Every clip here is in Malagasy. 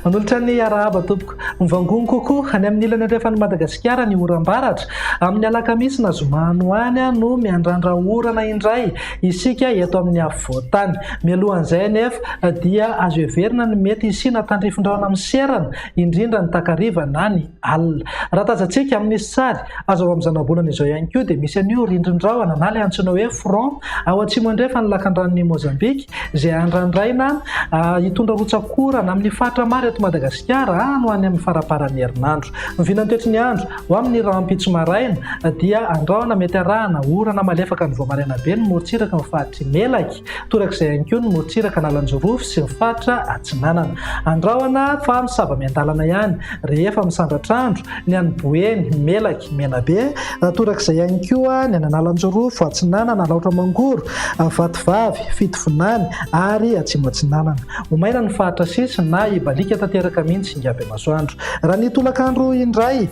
Manolotra ny arahaba tompoko. Mivangongo kokoa any amin'ny ilany andrefan'i Madagasikara ny oram-baratra. Amin'ny alakamisy na zoma any ho any no miandrandra orana indray isika eto amin'ny afovoan-tany. Mialohan'izay anefa dia azo heverina ny mety hisiana tandrifin-drahona miserana, indrindra ny takariva na ny alina. Raha tazantsika amin'ny sary azo avy amin'ny zanabolana izao ihany koa dia misy an'io rindrin-drahona na ilay antsoina hoe front ao atsimo andrefan'ny lakandranon'i Mozambika izay andrandraina hitondra rotsak'orana amin'ny faritra maro eto Madagasikara any ho any amin'ny faramparan'ny herinandro. Ny vinantoetry ny andro ho amin'ny rahampitso maraina dia andrahona mety arahana orana malefaka ny vao maraina be ny morontsiraka amin'ny faritry Melaky. Torak'izay ihany koa ny motsiraka an'Alanjorofy sy ny faritra atsinanana. Andrahona fa misava miandalana ihany, rehefa misandratr'andro, ny any Boeny, Melaky, Menabe. Torak'izay ihany koa ny any an'Alanjorofo atsinanana, Alaotra Mangoro, Vatovavy, Fitovinany ary Atsimo Atsinanana. Ho maina ny faritra sisiny na hibaliaka tanteraka mihitsy ingaby masoandro. Raha ny tolak'andro indray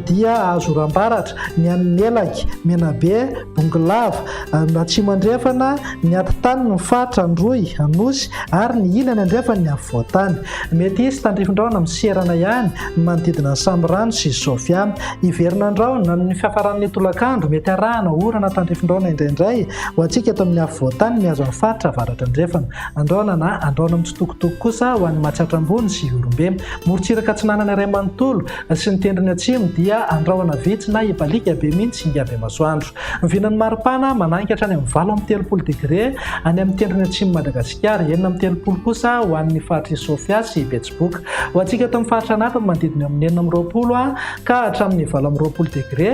dia azo oram-baratra ny any Melaky, Menabe, Bongolava, Ny atsimo andrefana, ny atitany, ny faritra, Androy, Anosy, ary ny ilany andrefana, ny afovoan-tany. Mety hisy tandrifindrahona miserana ihany ny manodidina an'i Samirano sy Sofia. Hiverina an-drahona amin'ny fiafaran'ny tolakandro, mety harahana orana tandrifindrahona indraindray ho antsika eto amin'ny afovoan-tany mihazo ny faritra avaratra andrefana. Andrahona na andrahona mitsitokotoko kosa ho an'i Matsiatra Ambony sy Ihorombe. Morontsiraka atsinanana iray manontolo sy ny tendrony atsimo dia andrahona vitsy na ibaliaka be mihitsy hingà be masoandro. Mivilan'ny maripana manangy hatrany amin'ny valo amby telopolo degre any amin'ny tendrony atsimon'i Madagasikara, enina amby telopolo kosa ho an'ny faritr'i Sofia sy Betsiboka. Ho antsika eto amin'ny faritra anatiny, manodidina eo amin'ny enina amby roapolo ka hatramin'ny valo amby roapolo degre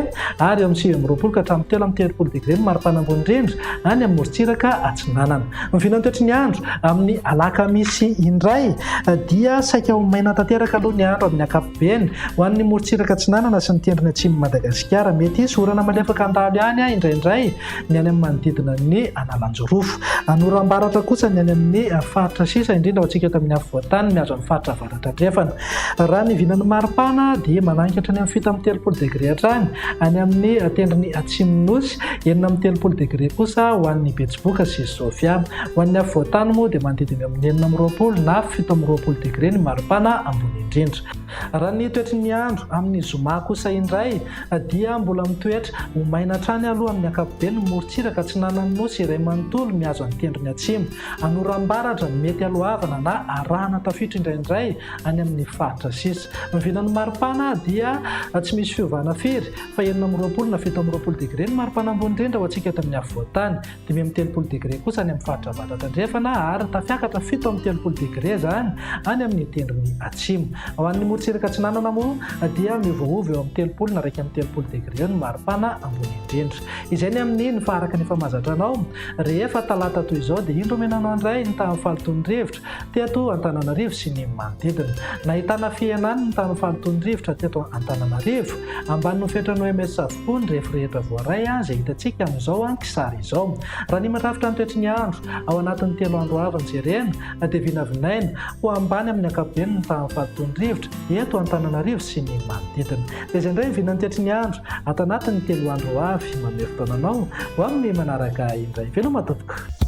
ary eo amin'ny sivy amby roapolo ka hatramin'ny telo amby telopolo degre ny maripana ambony indrindra any amin'ny morontsiraka atsinanana. Miviana ny toetry ny andro. Amin'ny alakamisy indray dia saika ho maina tanteraka aloha ny andro amin'ny ankapobeny. Ben, ho an'ny morontsiraka atsinanana sy ny tendrony atsimon'i Madagasikara, mety hisy orana malefaka handalo any indraindray ny any amin'ny manodidina an'i Analanjirofo. Hanoram-baratra kosa ny any amin'ny faritra sisa indrindra ao antsika eto amin'ny afovoan-tany mihazo an'ny faritra avaratra andrefana. Raha ny vinan'ny maripana dia mananika hatrany amin'ny fito amby telopolo degre hatrany any amin'ny tendrony atsimon'ny Nosy, enina amby telopolo degre kosa ho an'ny Betsiboka sy Sofia. Ho an'ny afovoan-tany moa dia manodidina eo amin'ny enina amby roapolo na fito amby roapolo degre ny maripana ambony indrindra. indrindra. Raha ny toetry ny andro amin'ny zoma kosa indray dia mbola mitoetra ho maina hatrany aloha amin'ny ankapobeny ny morontsiraka atsinanan'ny Nosy iray manontolo mihazo an'i Tendrony Atsimo, an'Orambaratra, mety haloavana na arahana tafiotra indraindray any amin'ny faritra sisa. Ny vinan'ny maripana dia tsy misy fiovana firy fa enina amby roapolo na fito amby roapolo degre ny maripana ambony indrindra ho antsika eto amin'ny afovoan-tany. dimy amby telopolo degre kosa any amin'ny faritra Avatra Tandrefana ary tafiakatra fito amby telopolo degre izany any amin'ny tendrony atsimo. Ho an'ny morotsiraka atsinanana moa dia miovaova eo amin'ny telopolo na iraika amby telopolo degre eo ny maripana ambony indrindra. Izay ny amin'ny ny faha araka ny efa mahazatra anao. Rehefa talata toy izao dia indro omena anao indray ny tahan'ny fahalotoan'ny rivotra. teto Antananarivo sy ny manodidina. Nahitana fihenany ny tamin'ny fahalotoan'ny rivotra teto Antananarivo. Ambanin'ny fetran'ny OMS avokoa ny refy rehetra voaray izay hitantsika amin'izao kisary izao. Raha ny mirafitra ny toetry ny andro, ao anatin'ny telo andro avy nojerena dia vinavinaina ho ambany amin'ny ankapobeny ny tahan'ny fahalotoan'ny rivotra eto Antananarivo sy ny manodidina. Dia izay indray vinan'ny toetry ny andro ato anatin'ny telo andro ho avy. Manome fotoana anao ho amin'ny manaraka indray. Veloma tompoko!